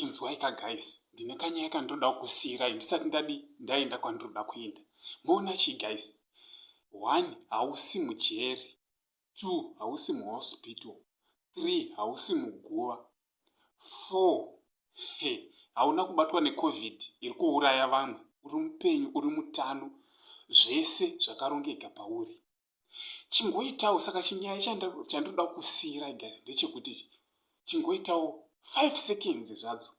inzwaika guys ndine kanyaya kandiroda kukusiirai ndisati ndadi ndaenda kwandiroda kuenda moona chii guys one hausi mujeri two hausi muhospital three hausi muguva four he hauna kubatwa necovid iri kuuraya vanhu uri mupenyu uri mutano zvese zvakarongeka pauri chingoitawo saka chinyaya chandinoda kusiira guys ndechekuti chingoitawo five seconds zvadzo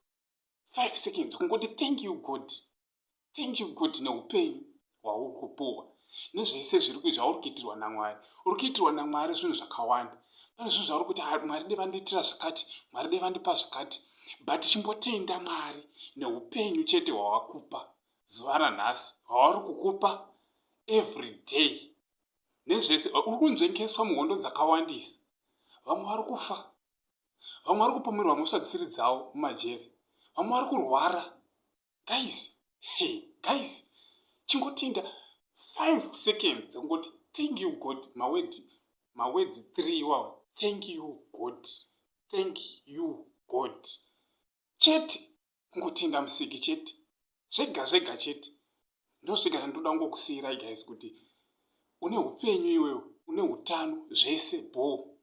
five seconds kungoti thank you god Thank you God neupenyu hwauri kupuhwa nezvese zviri zvauri kuitirwa naMwari. Uri kuitirwa naMwari zvinhu zvakawanda. Pane zvinhu zvauri kuti ah, Mwari dai vandiitira zvakati, Mwari dai vandipa zvakati. But chimbotenda Mwari neupenyu chete hwawakupa zuva ranhasi, hwauri kukupa every day. Nezvese uri kunzvengeswa muhondo dzakawandisa. Vamwe vari kufa. Vamwe vari kupomerwa mhosva dzisiri dzavo mumajeri. Vamwe vari kurwara. guys hey, guys chingotinda 5 seconds kungoti thank you god mawedzi mawedzi 3 iwawa thank you god thank you god chete kungotinda musiki chete zvega zvega chete ndosvika zvandoda kungokusiyirai guys kuti une upenyu iwewe une utano zvese bho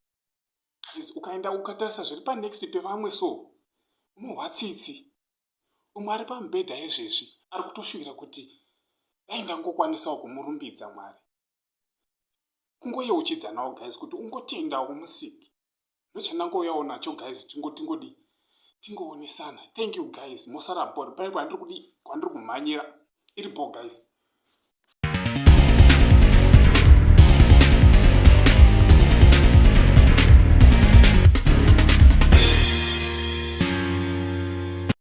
guys ukaenda ukatarisa zviri panext pevamwe so unohwa tsitsi Umwe ari pamubhedha izvezvi ari kutoshuvira kuti dai ndangokwanisawo kumurumbidza Mwari. Kungoyeuchidzanawo guys kuti ungotendawo kumusiki. Ndochandangouyawo nacho guys tingo tingodii tingoonesana thank you guys mosara bhori pane kwandiri kudi kwandiri kumhanyira iri bho guys